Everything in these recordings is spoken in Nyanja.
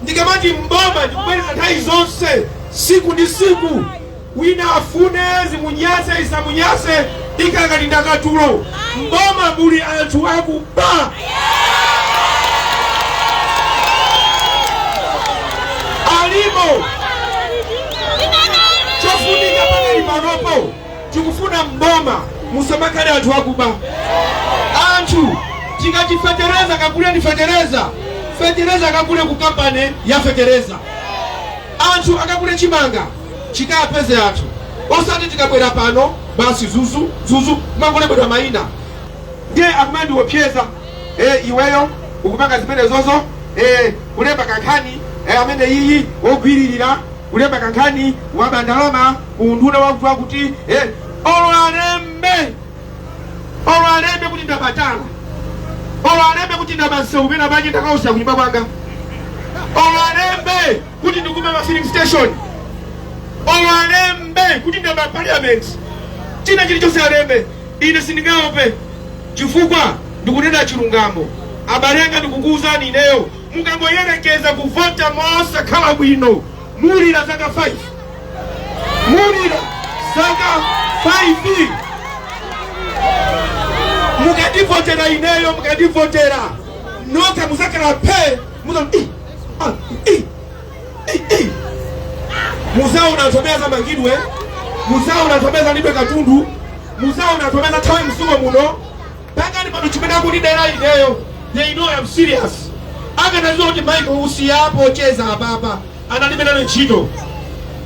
Ndikamati m'boma ndikubwereza nthawi zonse siku ndi siku, wina afune zimunyase zisamunyase ikakati ndakatulo, m'boma muli anthu akuba. Alimo. Chofunika pakali panopo tikufuna m'boma musamakhale anthu akuba anthu tikati fetereza kaguleni fetereza fetereza akagule ku kampani ya fetereza anthu akagula chimanga chikapeze anthu osati tikabwera pano basi zuzu zuzu kumangolembedwa mayina ndiye akumandiopseza eh, iweyo ukupanga zimenezozo eh, kulemba kankhani eh, ameneyi wogwiririra kulemba kankhani waba ndalama ku unduna wakutiwakuti eh, olo alembe olo alembe kuti ndaba tala olo alembe kuti ndaba msewu pena pake ndakautsa kunyumba kwanga olo alembe kuti ndikuba ma filling station olo alembe kuti ndaba parliament china chilichonse alembe ine sindingaope chifukwa ndikunena chilungamo abale anga ndikukuwuzani ineyo Mukangoyerekeza kuvota mosakhala bwino mulira zaka 5 mulira zaka 5 mukandivotera ineyo mukandivotera nokha muzakhala phe muzati muzaona anthu amene azamangidwe muzaona anthu amene azalandidwe katundu muzaona anthu amene azathawe mziko muno pakali pano chimene akundidera ineyo they know I'm serious akanadziwa kuti Michael Usi wapocheza apapa analibe nayo ntchito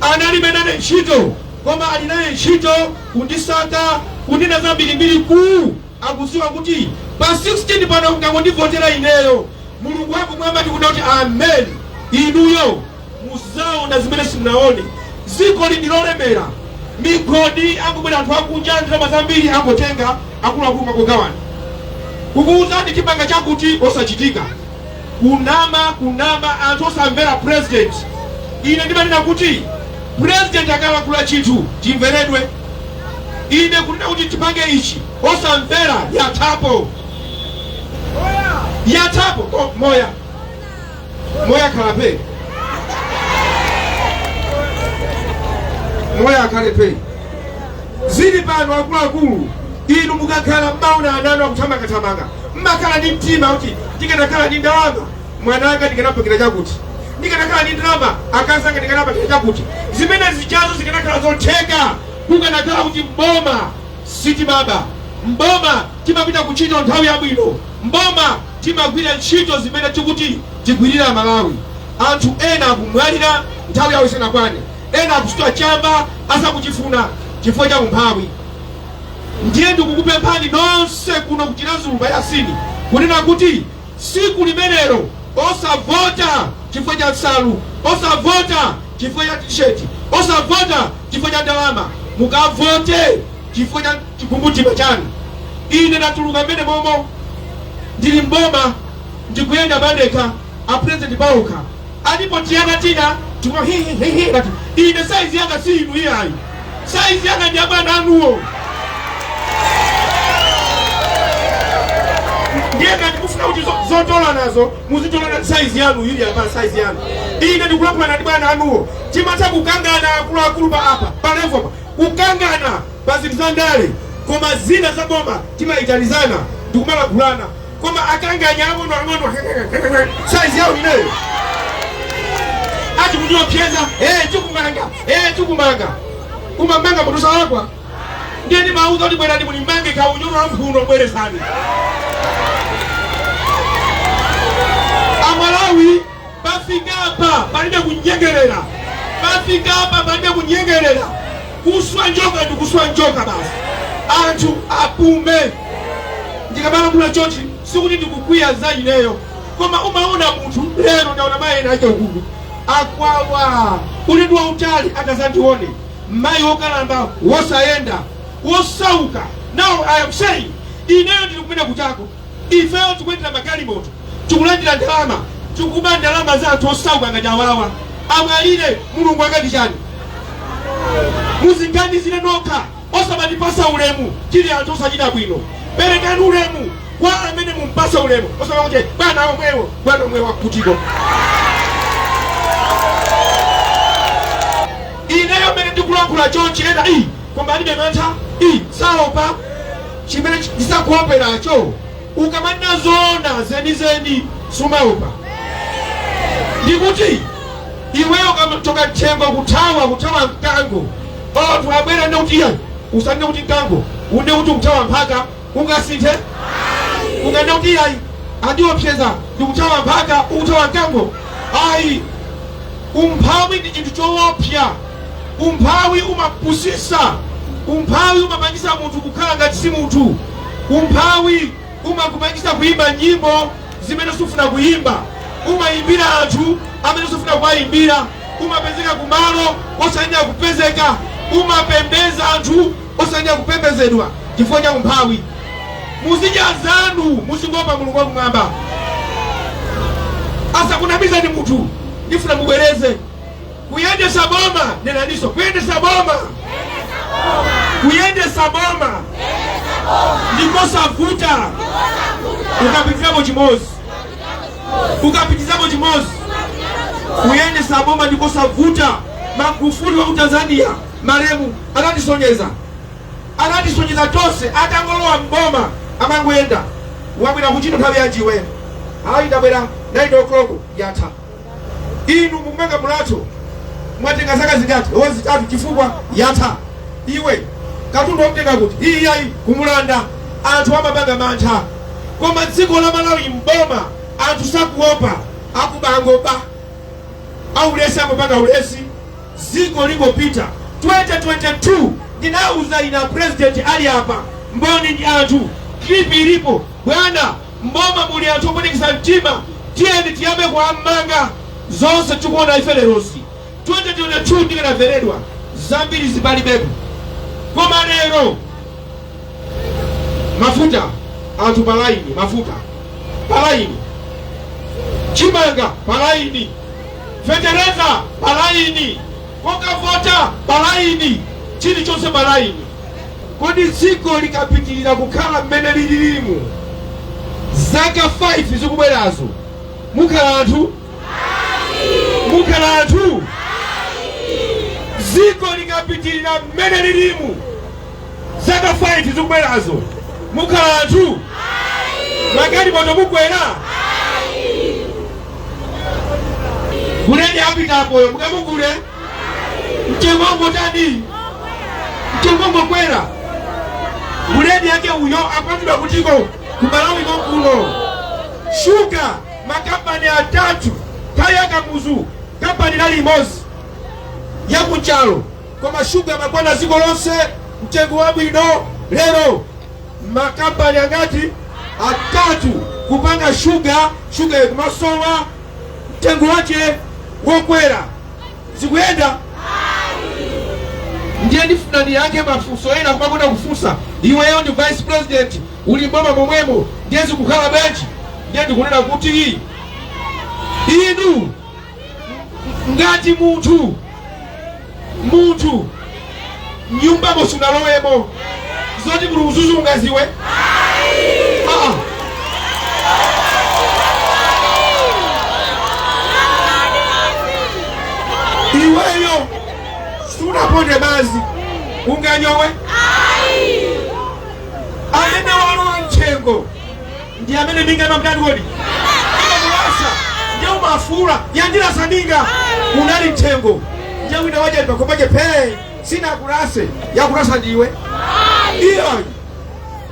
analibe nayo ntchito koma ali nayo ntchito kundisaka kundinena zambirimbiri ku akudziwa kuti pa 16 pano mukangondivotera ineyo mulungu wakumwamba tikunena kuti amen inuyo Muzaona zimene simunaone. Dzikoli ndi lolemera. Migodi akubwera anthu akunja ndalama zambiri angotenga akuluakulu nkugawana. Kukuuzani tipanga chakuti osachitika. Kunama kunama anthu osamvera president. Ine ndimanena kuti president akalankhula chinthu chimveredwe. Ine kunena kuti tipange ichi osamvera yathapo yathapo moya moya khala phe moya akhale phe zili pano akuluakulu inu mukakhala mmaona ana anu akuthamangathamanga mmakhala ndi mtima kuti ndikanakhala ndi ndalama mwana wanga ndikanampangira chakuti ndikanakhala ndi ndalama akazi anga ndikanawapangira chakuti zimenezijazo zikanakhala zotheka kukanakhala kuti mboma sitimaba mboma timapita kuchita nthawi yabwino mboma Timagwira ntchito zimene tikuti tigwirire Amalawi. Anthu ena akumwalira nthawi yawo isanakwane, ena akusuta chamba asakuchifuna chifukwa cha umphawi. Ndiye ndikukupemphani nonse kuno ku Chiradzulu pa Yasini kunena kuti tsiku limenelo osavota chifukwa cha nsalu, osavota chifukwa cha tisheti, osavota chifukwa cha ndalama, mukavote Chifukwa cha chikumbumtima chanu, ine ndatuluka m'mene momo. Ndili m'boma, ndikuyenda pandekha, a president paokha alipo tiana tina timangoti hi hi hi hi ngati ine saizi yanga si inu iyayi, saizi yanga ndi abwana anuwo. Ndiye ngati mufuna kuti zo- zotola nazo muzitolana ndi saizi yanu ili apa saizi yanu, ine ndikulimbana ndi bwana anuwo. Timatha kukangana akuluakulu pa apa pa level apa kukangana pa zinthu za ndale koma zina za boma timayitanizana ndikumalankhulana koma akanganya ang'ono ang'ono si saizi yawo ineyo ati kundiopyeza eh chikumanga eh chikumanga kumamanga munthu salakwa ndiye ndimawauza kuti bwerani mundimange kaunyolo wa mphuno bwerani Amalawi Pafikapa palibe kunyengelela, pafikapa palibe kunyengelela. Kuswa njoka ndi kuswa njoka basi, anthu apume. Ndikamalankhula chonchi sikuti ndikukwiya za ineyo, koma umaona munthu lero ndaona mayi ena ake uku akukwawa ulendo wautali akazandione mayi wokalamba wosayenda wosauka. Now I am saying ineyo ndikupita kuchako Ifeyo tikuyendera magalimoto tikulandila ndalama tikuba ndalama za anthu osauka ngati awawa amwalire mulungu akati chani muziganizire nokha osamatipasa ulemu tili anthu osachita bwino perekani ulemu kwa amene mumpasa ulemu osamakuti bwana omwewo bwana omwewo akutibera ineyo mene ndikulankhula chonchi ena iyi koma alibe mantha iye saopa chimene chisakuoperacho ukamanena zoona zenizeni sumaopa ndikuti iweyo ukamachoka mthengo kuthawa kuthawa mkango anthu abwera nde kuti iyayi usanene kuti mkango unene kuti ukuthawa mphaka ungasinthe unganene kuti ayi andiopseza ndikuthawa mphaka ukuthawa mkango ayi umphawi ndi chinthu choopsa umphawi umapusisa umphawi umapangisa munthu kukhala ngati si munthu umphawi umakupangisa kuyimba nyimbo zimene sufuna kuyimba umayimbira anthu amene sufuna kuwayimbira umapezeka kumalo osayenera kupezeka umapembeza anthu osayenera kupembezedwa chifukwa cha umphawi muzidya zanu muzingoopa mulungu wakumwamba asakunamizani munthu ndifuna mubwereze kuyendesa boma nenaniso kuyendesa boma kuyendesa boma ndikosavuta ukapitizako chimozi ukapitizako chimozi kuyendesa boma ndikosavuta magufuli wa ku tanzania Malemu anatisonyeza anatisonyeza tonse atangolowa m'boma amangoyenda wabwera kuntchito nthawi yanji iweyo ayi ndabwera 9 o'clock yatha inu mukumanga mulatho mwatenga zaka zingati o zitatu chifukwa yatha iwe katundu wamutenga kuti iyayi kumulanda anthu amapanga mantha koma dziko la malawi m'boma anthu sakuopa akuba akungoba aulesi akungopanga ulesi dziko likungopita 2022 ndinauza ine a president ali apa mboni ndi anthu clip ilipo bwana mboma muli anthu opwetekesa mtima tiyeni tiyambe kuammanga zonse tikuona ife lerosi 2022 ndikanaveredwa zambiri zikanalibepo koma lero mafuta anthu palaini mafuta palaini chimanga palaini fetereza pa laini, kokavota pa laini, chilichonse pa laini. Kodi dziko likapitirira kukhala mmene lililimu zaka 5 zikubwerazo, mukhala anthu mukhala anthu dziko likapitirira mmene lilimu Zaka 5 zikubwerazo mukhala anthu? Magalimoto mukwera? Buledi apitapoyo mukamugule? Mtengo ukungotani? Mtengo ukungokwera? Buledi yake uyo apangidwa kutiko ku Malawi konkuno. Shuga makampani atatu kale a kamuzu kampani inali imodzi ya ku Nchalo koma shuga amakwana dziko lonse mtengo wabwino lero makampani angati atatu kupanga shuga shuga ikumasowa mtengo wake wokwera zikuyenda ndiye ndifuna ndiyankhe mafunso ena kumakonda kufunsa iweyo ndi vice president uli mboma momwemo ndiye zikukhala bwanji ndiye ndikunena kuti inu ngati munthu munthu nyumbamo sunalowemo zoti muli udzudzu ungadziwe Ah. iweyo sunaponde madzi unganyowe amene walowa mtchengo ndi amene minga imamtani kodi imamulasa ndiye amafuula yandilasa minga unali mthengo ndiye wina waja pakopaje phee sinakulase yakulasa ndiwe iyayi